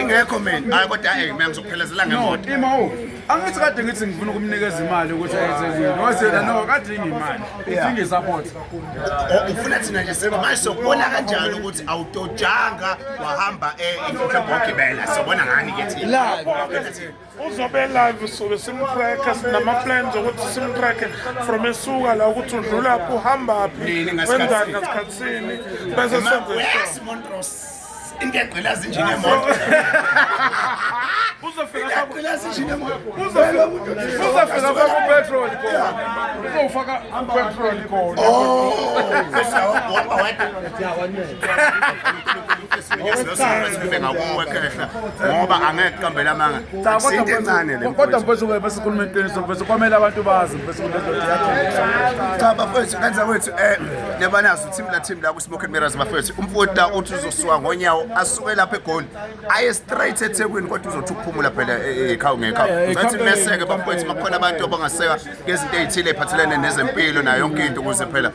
ingekho mina hayi kodwa hayi mina ngizokuphelezela ngemoto imawo angithi kade ngithi ngifuna ukumnikeza imali ukuthi ayethezile wasela no kade ingimali idinga isupport oh, ufuna thina nje sema manje sokubona kanjani ukuthi awutotshanga wahamba eh ngokugibela sobona ngani ke thina uzobe live sobe simtracker sinama-plans okuthi simtracker from esuka la ukuthi udlulaphi uhambaphi wenzani ngasikhathi sini bese senze montros into egqela zinjini emoto uzofika kupetrol uzofaka upetrol khona ngoba angeke kuqambele amanga into encane le kodwa mfethu ke bese khuluma iqiniso mfethu kwamele abantu bazi mfethu kunendoda yakhe cha bafethu kanza kwethu eh nebanazo team la team la ku smoke mirrors bafethu umfoti la uthi uzosuka ngonyawo asuke lapha egoli aye straight ethekwini kodwa uzothi ukuphumula phela ekhawu eh, eh, ngekhawu eh, ngathi meseke bafethu makhona abantu abangaseka ngezinto ezithile ephathelene nezempilo nayo yonke into ukuze phela